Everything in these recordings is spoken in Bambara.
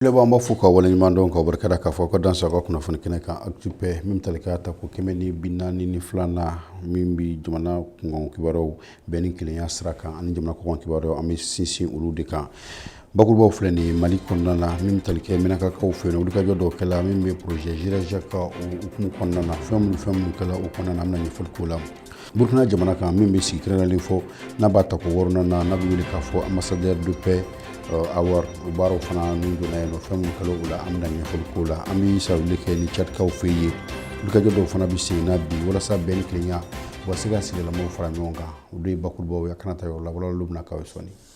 Filɛbaw an b'aw fo k'aw waleɲuman dɔn k'aw barikada k'aw fo k'aw dansɛ an ka kunnafoni kɛnɛ kan Actu Paix min bɛ tali kɛ a tako kɛmɛ ni bi naani ni filanan na min bɛ jamana kunkan kibaruw bɛn ni kelenya sira kan ani jamana kɔkan kibaruw an bɛ sinsin olu de kan bakurubaw filɛ nin ye mali kɔnɔna na min bɛ tali kɛ mɛnakakaw fɛ yen wulikajɔ dɔ kɛla min bɛ projet jirajaka hukumu kɔnɔna na fɛn minnu fɛn minnu kɛla o kɔnɔna na an bɛna ɲɛfɔli k'o la burukina jamana kan min bɛ sigi kɛrɛnkɛrɛnlen fɔ n'a b'a tako wɔɔrɔnan na n'a bɛ wele k'a fɔ ambassadeur de paix euh, award o baaraw fana n'u donna yen nɔ fɛn minnu kɛla o la an bɛna ɲɛfɔli k'o la an bɛ sawuli kɛ ni cadikaw fɛ yen wulikajɔ dɔw fana bɛ sen na bi walasa bɛn ni kelenya u ka se ka sigidalamaw fara ɲɔgɔn kan olu ye bakurubaw ye a kana ta yɔrɔ la walawalaliw bɛna k'aw ye sɔɔni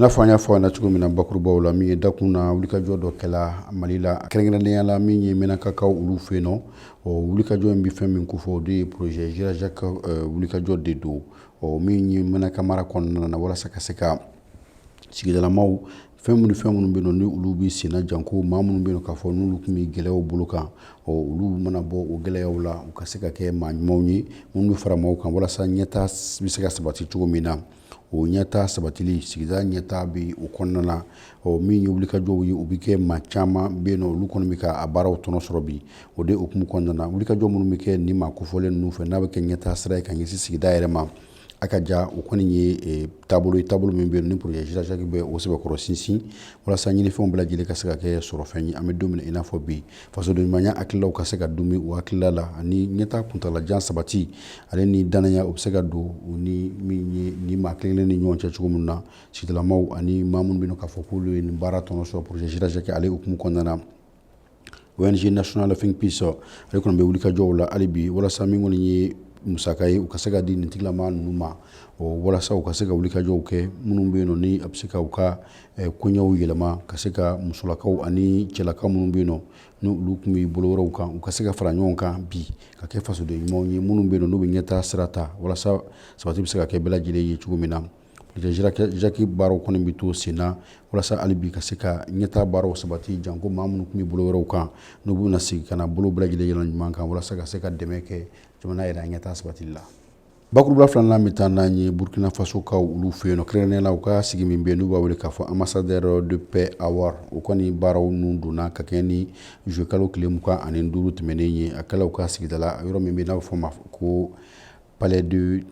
n'a fɔ an y'a fɔ a na cogo min na bakurubaw la min ye dakun na wulikajɔ dɔ kɛla mali la kɛrɛnkɛrɛnnenya la min ye mɛnakakaw olu fɛ yen nɔ o wulikajɔ in bɛ fɛn min ko fɔ o de ye projet jirajaka wulikajɔ de don ɔ min ye mɛnaka mara kɔnɔna na walasa ka se ka sigidalamaw fɛn minnu fɛn minnu bɛ yen nɔ ni olu bɛ senna janko maa minnu bɛ yen nɔ k'a fɔ n'olu tun bɛ gɛlɛyaw bolo kan ɔ olu mana bɔ o gɛlɛyaw la u ka se ka kɛ maa ɲumanw ye minnu bɛ fara maaw kan walasa ɲɛta bɛ se ka sabati cogo min na o ɲɛta sabatili sigida ɲɛta bɛ o kɔnɔna na ɔ min ye wulikajɔw ye u bɛ kɛ maa caman bɛ yen nɔ olu kɔni bɛ ka a baaraw tɔnɔ sɔrɔ bi o de hukumu kɔnɔna na wulikajɔ minnu bɛ kɛ nin maa kofɔlen ninnu fɛ n'a bɛ kɛ ɲɛtaa sira ye ka ɲɛsin sigida yɛrɛ ma a ka ja o kɔni ye e, taabolo ye taabolo min bɛ yen ni projet jirajaki bɛ o sɛbɛkɔrɔ sinsin walasa ɲinifɛnw bɛɛ lajɛlen ka se ka kɛ sɔrɔfɛn ye an bɛ don min i n'a fɔ bi fasodenɲumanya hakililaw ka se ka don maaw hakilila la ani ɲɛtaa kuntalajan sabati ale ni dannaya o bɛ se ka don u ni min ye ni maa kelen ni ɲɔgɔn cɛ cogo min na sigidalamaw ani maa minnu bɛ k'a fɔ k'olu ye nin baara tɔnɔ sɔrɔ projet Jirajaki ale hukumu kɔnɔna na ONG nationale Think Peace ale kɔni bɛ wulikajɔw la hali bi walasa min kɔni ye musaka ye u ka se ka di nin tigilama ninnu ma walasa u ka se ka wulikajɔw kɛ minnu bɛ yen nɔ ni a bɛ se ka u ka eh, koɲɛw yɛlɛma ka se ka musolakaw ani cɛlakaw minnu bɛ yen nɔ ni olu tun bɛ bolo wɛrɛw kan u ka se ka fara ɲɔgɔn kan bi ka kɛ fasoden ɲumanw ye minnu bɛ yen nɔ n'u bɛ ɲɛtaa sira ta walasa sabati bɛ se ka kɛ bɛɛ lajɛlen ye cogo min na jaki baaraw kɔni bɛ to sen na walasa hali bi ka se ka ɲɛta baaraw sabati janko maa minnu tun bɛ bolo wɛrɛw kan n'u bɛna se ka na bolo bɛɛ lajɛlen yɔrɔ ɲuman kan walasa ka se ka dɛmɛ kɛ jamana yɛrɛ an ɲɛta sabati la bakuruba filanan bɛ taa n'an ye burukina fasokaw olu fɛ yen kɛrɛnnen la u ka sigi min bɛ n'u b'a wele k'a fɔ ambassadeur de paix award o kɔni baaraw ninnu donna ka kɛ ni zuwɛnkalo tile mugan ani duuru tɛmɛnnen ye a kɛla u ka sigida yɔrɔ min bɛ n'a fɔ ma ko palais de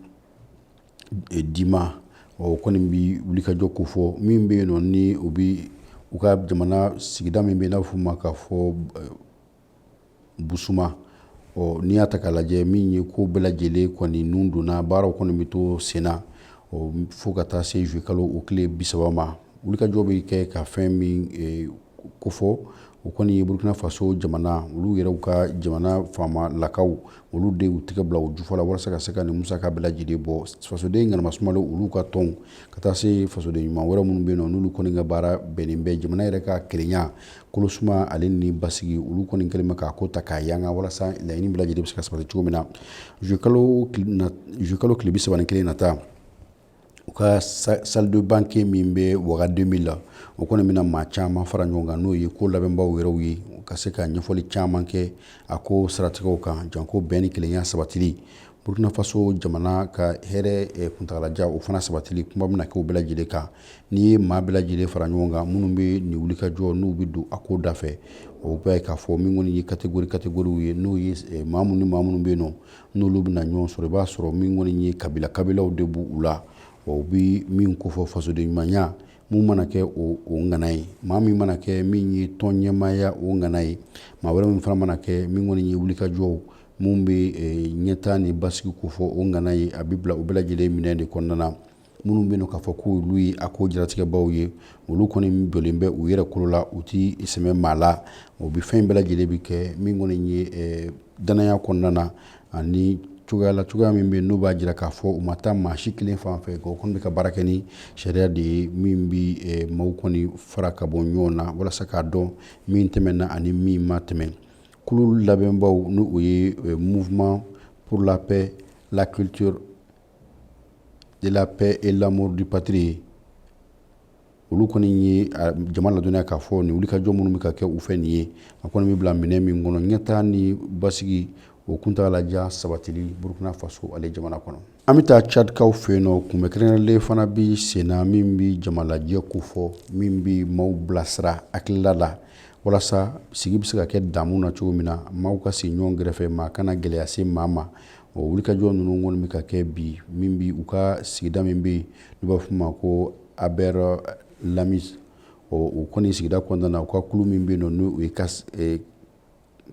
e, dima o kɔni bɛ wulikajɔ ko fɔ min bɛ yen nɔ ni u bɛ u ka jamana sigida min bɛ n'a b'a fɔ o ma k'a fɔ e, busuma ɔ n'i y'a ta k'a lajɛ min ye ko bɛɛ lajɛlen kɔni nun donna baaraw kɔni bɛ to senna ɔ fo ka taa se zuwe kalo o tile bi saba ma wulikajɔ bɛ kɛ ka fɛn min e, ko fɔ u kɔni ye burukina faso jamana olu yɛrɛw ka jamana faamalakaw olu de y'u tɛgɛ bila u jufɔ la walasa ka se ka nin musaka bɛɛ lajɛlen bɔ fasoden ŋanama sumalen olu ka tɔnw ka taa se fasoden ɲuman wɛrɛ minnu bɛ yen nɔ n'olu kɔni ka baara bɛnnen bɛ jamana yɛrɛ ka kelenya kolosuma ale ni basigi olu kɔni kɛlen bɛ k'a ko ta k'a yanga walasa laɲini bɛɛ lajɛlen bɛ se ka sabati cogo min na zukalo tile bi saba ni kelen nata u ka salle de banquet min bɛ waga deux mille la o kɔni bɛna maa caman fara ɲɔgɔn kan n'o ye ko labɛnbaw yɛrɛw ye u ka se ka ɲɛfɔli caman kɛ a ko saratigɛw kan janko bɛn ni kelenya sabatili burukina faso jamana ka hɛrɛ kuntaalajan o fana sabatili kuma bɛna kɛ o bɛɛ lajɛlen kan n'i ye maa bɛɛ lajɛlen fara ɲɔgɔn kan minnu bɛ nin wulikajɔ n'u bɛ don a ko da fɛ o bɛ k'a fɔ min kɔni ye catégorie catégorie ye n'o ye maa minnu ni maa minnu bɛ yen nɔ n'olu bɛna ɲɔgɔn sɔrɔ i b'a sɔrɔ min kɔni ye kabila kabilaw de b'u la ɔ u bɛ min ko fɔ fasoden ɲumanya min mana kɛ o ŋana ye maa min mana kɛ min ye tɔn ɲɛmaaya o ŋana ye maa wɛrɛ min fana mana kɛ min kɔni ye wulikajɔw minnu bɛ ɲɛtaa ni basigi ko fɔ o ŋana ye a bɛ bila o bɛɛ lajɛlen minɛn de kɔnɔna na minnu bɛ yen k'a fɔ ko olu ye a ko jaratigɛbaw ye olu kɔni jɔlen bɛ u yɛrɛ kolo la u tɛ sɛmɛ maa la o bɛ fɛn bɛɛ lajɛlen bɛ kɛ min kɔni ye eh, danaya kɔnɔna na ani cogoya la cogoya min bɛ n'o b'a jira k'a fɔ u ma taa maa si kelen fan fɛ o kɔni bɛ ka baara kɛ ni sariya de ye min bɛ eh, maaw kɔni fara ka bɔ ɲɔgɔn na walasa k'a dɔn min tɛmɛna ani min ma tɛmɛ kulu labɛnbaw n'o o ye eh, mouvement pour la paix la culture de la paix et l'amour du patrie olu kɔni ye jama ladɔnya k'a fɔ nin wulikajɔ minnu bɛ ka kɛ u fɛ nin ye a kɔni bɛ bila minɛn min kɔnɔ ɲɛtaa ni basigi o kuntagalajan sabatili burukina faso ale jamana kɔnɔ an bɛ taa cadikaw fɛ yen nɔ kunbɛn kɛrɛnkɛrɛnlen fana bɛ senna min bɛ jamalajɛ ko fɔ min bɛ maaw bilasira hakilila la walasa sigi bɛ se ka kɛ damu na cogo min na maaw ka sigi ɲɔgɔn gɛrɛfɛ maa kana gɛlɛya se maa ma ɔ wulikajɔ ninnu kɔni bɛ ka kɛ bi min bɛ u ka sigida min bɛ yen n'u b'a fɔ o ma ko aber lamis o kɔni sigida kɔnɔna na u ka kulu min bɛ yen nɔ n'o ye e,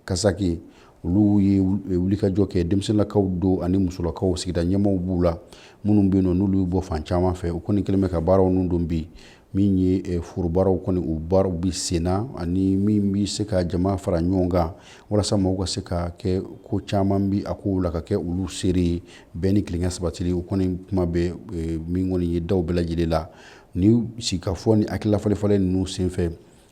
kasaki ye olu ye e, wulikajɔ kɛ denmisɛnninlakaw don ani musolakaw sigida ɲɛmaaw b'u la minnu bɛ yen nɔ n'olu bɔ fan caman fɛ u kɔni kɛlen bɛ ka baaraw ninnu don bi min ye eh, forobaaraw kɔni u baaraw bi senna ani min bi se ka jama fara ɲɔgɔn kan walasa maaw ka se ka kɛ ko caman bi a kow la ka kɛ olu seere ye bɛn ni kelenya sabatili o kɔni kuma bɛ eh, min kɔni ye daw bɛɛ lajɛlen la ni sigikafɔ ni hakililafalenfalen ninnu senfɛ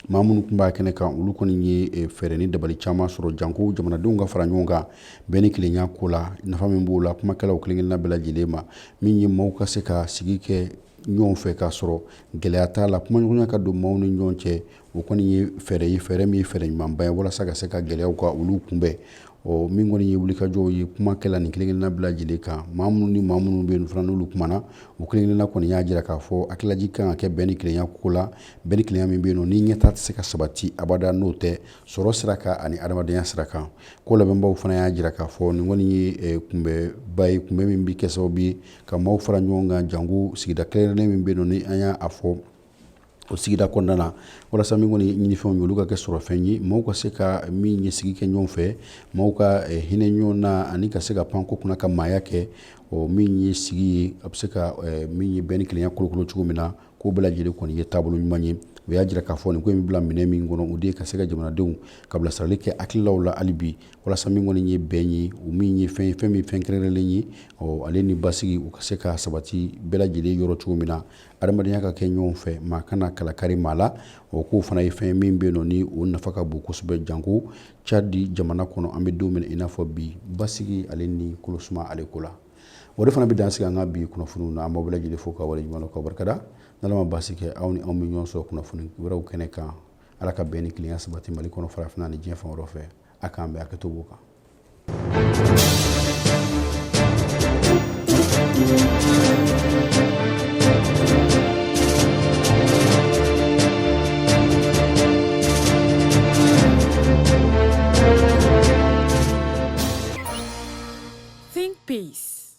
maa minnu tun b'a kɛnɛ kan olu kɔni ye eh, fɛɛrɛ ni dabali caman sɔrɔ janko jamanadenw ka fara ɲɔgɔn kan bɛn ni kelenya ko la nafa min b'o la kumakɛlaw kelenkelenna bɛɛ lajɛlen ma min ye maaw ka se ka sigi kɛ ɲɔgɔn fɛ k'a sɔrɔ gɛlɛya t'a la kumaɲɔgɔnya ka don maaw ni ɲɔgɔn cɛ o kɔni ye fɛɛrɛ ye fɛɛrɛ min ye fɛɛrɛ ɲumanba ye walasa ka se ka gɛlɛyaw ka olu kunbɛn ɔ min kɔni ye wulikajɔw ye kumakɛla nin kelenkelenna bɛɛ lajɛlen kan maa minnu ni maa minnu bɛ yen fana n'olu kumana u kelenkelenna kɔni y'a jira k'a fɔ hakililajigin ka kɛ bɛn ni kelenya ko la bɛn ni kelenya min bɛ yen nɔ ni ɲɛtaa tɛ se ka sabati abada n'o tɛ sɔrɔ sira kan ani adamadenya sira kan ko labɛnbaw fana y'a jira k'a fɔ nin kɔni ye eh, kunbɛnba ye kunbɛn min bɛ kɛ sababu ye ka maaw fara ɲɔgɔn kan janko sigida kɛrɛnkɛrɛnnen min bɛ yen nɔ ni an y'a fɔ o sigida kɔnɔna na walasa min kɔni ɲinifɛnw ye olu ka kɛ sɔrɔfɛn ye maaw ka se ka min ye sigi kɛ ɲɔgɔn fɛ maaw ka eh, hinɛ ɲɔgɔn na ani ka se ka pan ko kunna ka maaya kɛ o min ye sigi ye a bɛ se ka eh, min ye bɛn ni kelenya kolokolo cogo min na k'o bɛɛ lajɛlen kɔni ye taabolo ɲuman ye u y'a jira k'a fɔ nin ko in bɛ bila minɛn min kɔnɔ o de ye ka se ka jamanadenw ka bilasirali kɛ hakililaw la hali bi walasa min kɔni ye bɛn ye o min ye fɛn ye fɛn min fɛn kɛrɛnkɛrɛnlen ye ɔ ale ni basigi u ka se ka sabati bɛɛ lajɛlen yɔrɔ cogo min na adamadenya ka kɛ ɲɔgɔn fɛ maa kana kalakari maa la o k'o fana ye fɛn min bɛ nɔ ni o nafa ka bon kosɛbɛ janko cadi jamana kɔnɔ an bɛ don min i n'a fɔ bi basigi ale ni kolosuma ale ko la o de fana bɛ dan sigi an ka bi kunnafoniw na an b'aw bɛɛ lajɛlen fo k'aw waleɲuman k'aw barikada n'ala ma basi kɛ aw ni anw bɛ ɲɔgɔn sɔrɔ kunnafoni wɛrɛw kɛnɛ kan ala ka bɛn ni kelenya sabati mali kɔnɔ farafinna ni diɲɛ fan wɛrɛ fɛ a k'an bɛ a kɛ to kan Think peace.